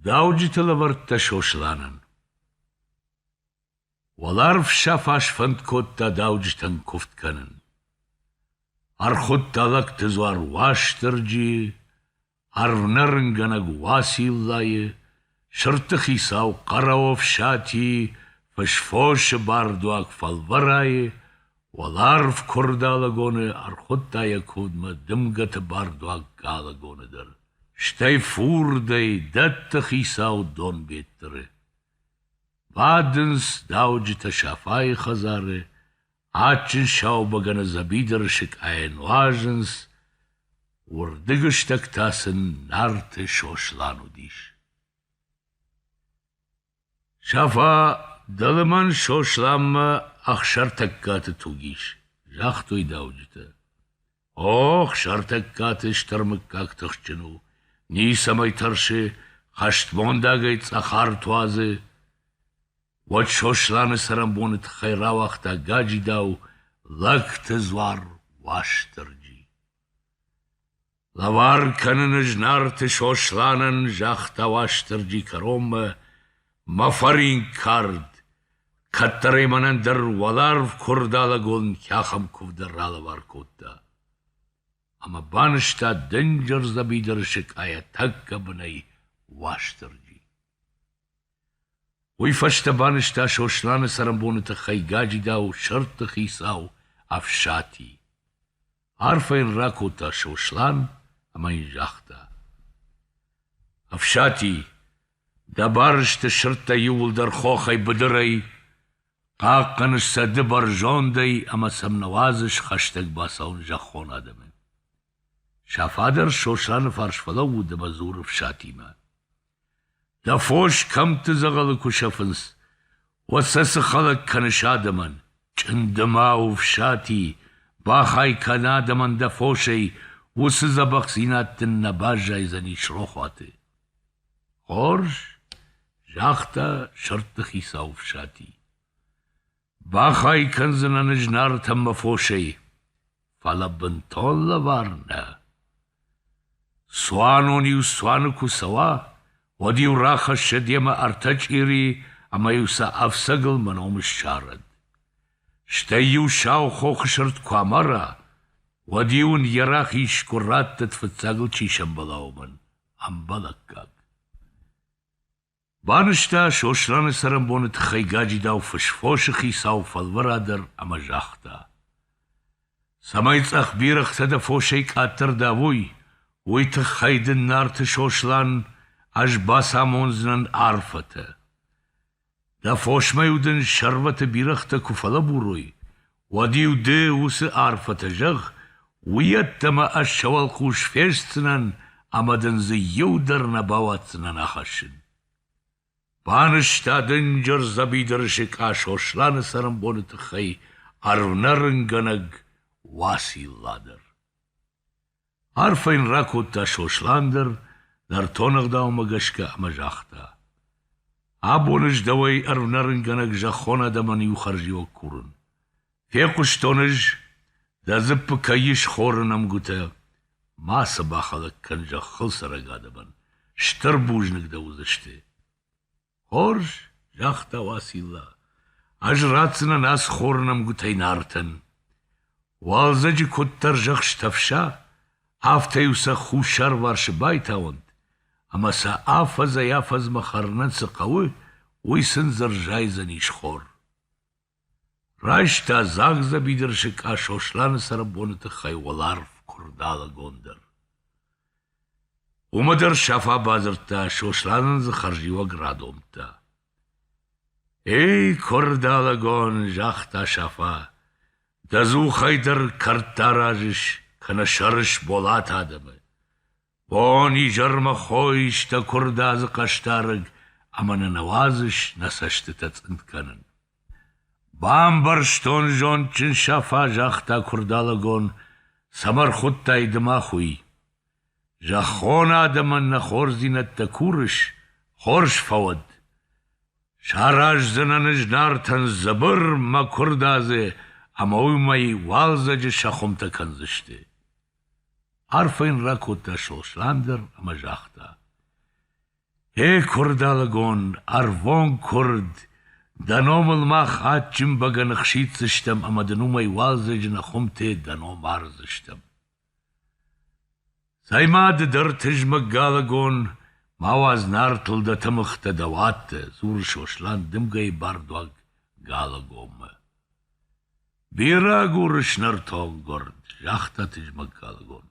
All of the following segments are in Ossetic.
Дауджыты лӕвӕрттӕ Сосланӕн Уӕларв сӕ фӕсфӕнд кодта дауджытӕн куывд кӕнын. Ӕрхуыдта лӕгты дзуар Уастырджийы, ӕрвнӕрынгӕнӕг Уациллайы, сырдты хицау Хъӕрӕофсати, фысфосы бардуаг Фӕлвӕрайы, Уӕларв куырд алыгоны ӕрхуыдта йӕ кудмӕ дымгӕты бардуаг алыгоны дӕр, стӕй фурдӕй дӕтты хицау Донбеттыры. Бадынц дауджытӕ Сафайы хӕдзары, адджын саубӕгӕны дзӕбидыры сыкъайӕ нуазынц, уырдыг стӕг та сын Нарты Сослан уыдис. Сафа, дӕлӕ мӕн Сосланмӕ Ӕхсӕртӕггаты туг ис, загътой дауджытӕ. О, Ӕхсӕртӕггаты стыр мыггаг тыхджын у, ницӕмӕй тӕрсы, хӕстмондагӕй цъӕхар туадзы. Уӕд Сосланы цӕрӕнбоны тыххӕй рауагъта гаджидау лӕгты дзуар Уастырджи. Лӕвар кӕныны знарты Сосланӕн загъта Уастырджи кӕронмӕ мӕ фӕринк кард, кӕддӕр ӕй мӕнӕн дӕр уӕларв Куырдалӕгонки ахӕм куывды ралӕвар кодта. Ӕмӕ банызта дынджыр дзӕбидыр сыкъайӕ тӕккӕ бынӕй Уастырджи. Уый фӕстӕ банызта Сосланы цӕрӕнбоны тыххӕй гаджидау сӕрды хицау Ӕфсати. Арфӕ йын ракодта Сослан ӕмӕ йын загъта: Ӕфсати, дӕ барысты сырдтӕ иууылдӕр хохӕй быдырӕй, хъахъхъӕныс сӕ ды бӕрзондӕй ӕмӕ сӕм нӕ уадзыс хӕстӕг бацӕуын зӕххон адӕмы. Сӕ фадар Сосланы фарс фӕлӕууыд ӕмӕ дзуры Ӕфсатимӕ: Дӕ фос кӕмтты дзӕгъӕлы куы сӕфынц, уӕд сӕ цы хӕлӕг кӕныс адӕмӕн? Чъынды ма у фсати, бахай кӕн адӕмӕн дӕ фосӕй, уыцы дзӕбӕхдзинад дын нӕ баззайдзӕнис рохуаты. — Хорз, — загъта сӕрдты хицау Фсати. Бахай кӕндзынӕн ӕз Нартӕн мӕ фосӕй, фӕлӕ бынтон лӕвар нӕ. Цуанон-иу цуаны куы цӕуа, уӕд-иу рахӕсса демӕ ӕртӕ чъирийы ӕмӕ-иу сӕ ӕфцӕгыл мӕ ном ссарӕд. Стӕй-иу сау хохы сырд куы амара, уӕд-иу ын йӕ рахиз сгуыр рӕттыд фыццагыл чи сӕмбӕла, уымӕн ӕмбӕлӕггаг. Банызта Сосланы цӕрӕнбоны тыххӕй гаджидау фысфосы хицау фӕлвӕра дӕр ӕмӕ загъта: «Цӕмӕй цъӕх бирӕгътӕ дӕ фосӕй къаддӕр давой, уый тыххӕй дын Нарты Сослан ӕз бацамондзынӕн арфӕтӕ. Дӕ фосмӕ-иу дын сӕрвӕты бирӕгътӕ куы фӕлӕбурой, уӕд-иу ды уыцы арфӕтӕ зӕгъ, уыйӕддӕмӕ ӕз сӕ уӕлхъус фестдзынӕн ӕмӕ дын дзы иу дӕр нӕ бауадздзынӕн ахӕссын. Банызта дынджыр дзӕбидырысыг ӕ Сосланы цӕрӕнбоны тыххӕй ӕрвнӕрынгӕнӕг Уацилла дӕр. Арфӕ йын ракодта Сослан дӕр, нӕртон ӕгъдаумӕ гӕсгӕ ӕмӕ загъта: «Абон ӕз дӕуӕй ӕрвнӕрынгӕнӕг зӕххон адӕмӕн иу хӕрзиуӕг курын. Фехъуыстон ӕз, дӕ дзыппы кӕй ис хоры нӕмгуытӕ. Мацы бахӕлӕг кӕн зӕххыл цӕрӕг адӕмӕн, стыр бузныг дӕ уыдзысты!» Хорз, загъта Уацилла, ӕз ратдзынӕн ацы хоры нӕмгуытӕй Нартӕн. Уалдзӕджы куыддӕр зӕхстӕфса, афтӕ-иу сӕ хуссарварсы байтауӕнт, ӕмӕ сӕ афӕдзӕй-афӕдзмӕ хӕрынӕн цы хъӕуы, уый сын дзы рзайдзӕнис хор. Райста дзагъдзӕби дырсыкъа Сосланы цӕрӕнбоны тыххӕй уӕларв Куырдалыгон дӕр. Уымӕ дӕр Сафа бадзырдта Сосланӕн дзы хӕрзиуӕг радомдта. — Эй, Куырдалыгон, загъта Сафа, — дӕ дзухӕй дӕр кӕрдтӕ аразыс, кӕнӕ сӕрыс болат адӕмы. Бон-изӕрмӕ хой исты куырдадзы хъӕсдарӕг ӕмӕ нӕ нӕ уадзыс нӕ цӕстытӕ цъынд кӕнын. Бамбӕрстон зондджын Сафа, загъта куырдалӕгон, цӕмӕ рхуыдтай ды мах уый. Зӕххон адӕмӕн нӕ хорздзинӕдтӕ курыс, хорз фӕуӕд. Сараздзынӕн ӕз Нартӕн дзыбыр мӕ куырдадзы ӕмӕ уый мӕй уалдзӕджы сӕ хуымтӕ кӕндзысты. Арфӕ йын ракодта Сослан дӕр ӕмӕ загъта: «Э, куырдалыгон, ӕрвон куырд, дӕ номыл мах адджын бӕгӕны хсиддзыстӕм ӕмӕ дын уымӕй уалдзӕджы нӕ хуымтӕ дӕ ном ардзыстӕм. Цӕй-ма, ды дӕр, тызмӕг галыгон, ма уадз нартыл дӕ тымыгътӕ дӕ уадтӕ», — дзуры Сослан дымгӕйы бардуаг Галыгоммӕ. Бирӕ гуры снӕртонггорд, загъта тызмӕггӕнгон.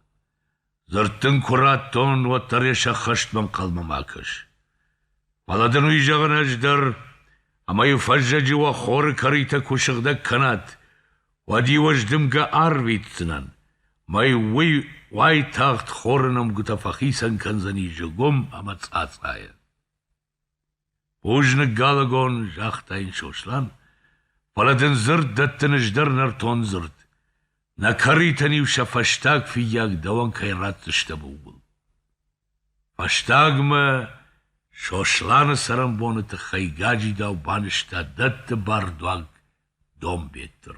Дзырд дын куы радтон, уӕддӕр йӕ сӕххӕстмӕ ӕнхъӕлмӕ ма кӕс. Фӕлӕ дын уый зӕгъын ӕз дӕр, ӕмӕ-иу фӕззӕджы уӕ хоры кӕритӕ куы сыгъдӕг кӕнат, уӕд-иу ӕз дымгӕ арвитдзынӕн, мӕй уый уайтагъд хоры нӕмгуытӕ фӕхицӕн кӕндзӕни зыгуым ӕмӕ цъацъайӕ. Бузныг, Галагон, загъта йын Сослан, фӕлӕ дын дзырд дӕттын ӕз дӕр нӕртон дзырд. Нӕ кӕритӕн-иу сӕ фӕстаг фыййаг дӕуӕн кӕй ратдзыстӕм, ууыл. Фӕстагмӕ Сосланы цӕрӕнбоны тыххӕй гаджидау банызта дӕтты бардуаг Донбеттыр.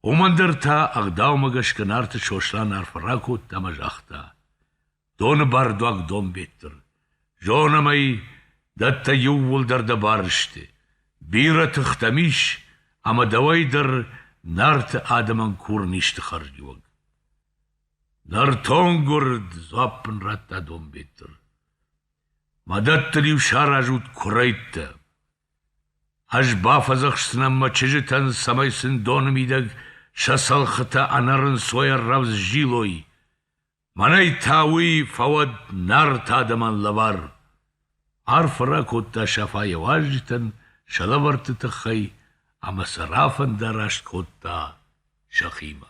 Уымӕн дӕр та ӕгъдаумӕ гӕсгӕ Нарты Сослан арфӕ ракодта ӕмӕ загъта: «Доны бардуаг Донбеттыр, зонӕм ӕй, дӕттӕ иууылдӕр дӕ барысты, бирӕ тыхтӕм ис, ӕмӕ дӕуӕй дӕр Нарты адӕмӕн курын исты хӕрзиуӕг». «Нӕртон гуырд!» — дзуапп ын радта Донбеттыр. «Мӕ дӕттыл-иу саразут куырӕйттӕ. Ӕз бафӕдзӕхсдзынӕн мӕ чызджытӕн, цӕмӕй сын доны мидӕг сӕ цӕлхытӕ ӕнӕрынцойӕ рӕвдз зилой. Мӕнӕй та уый фӕуӕд Нарты адӕмӕн лӕвар!» Арфӕ ракодта Сафа йӕ уазджытӕн сӕ лӕвӕртты тыххӕй ӕмӕ сӕ рафӕндараст кодта сӕхимӕ.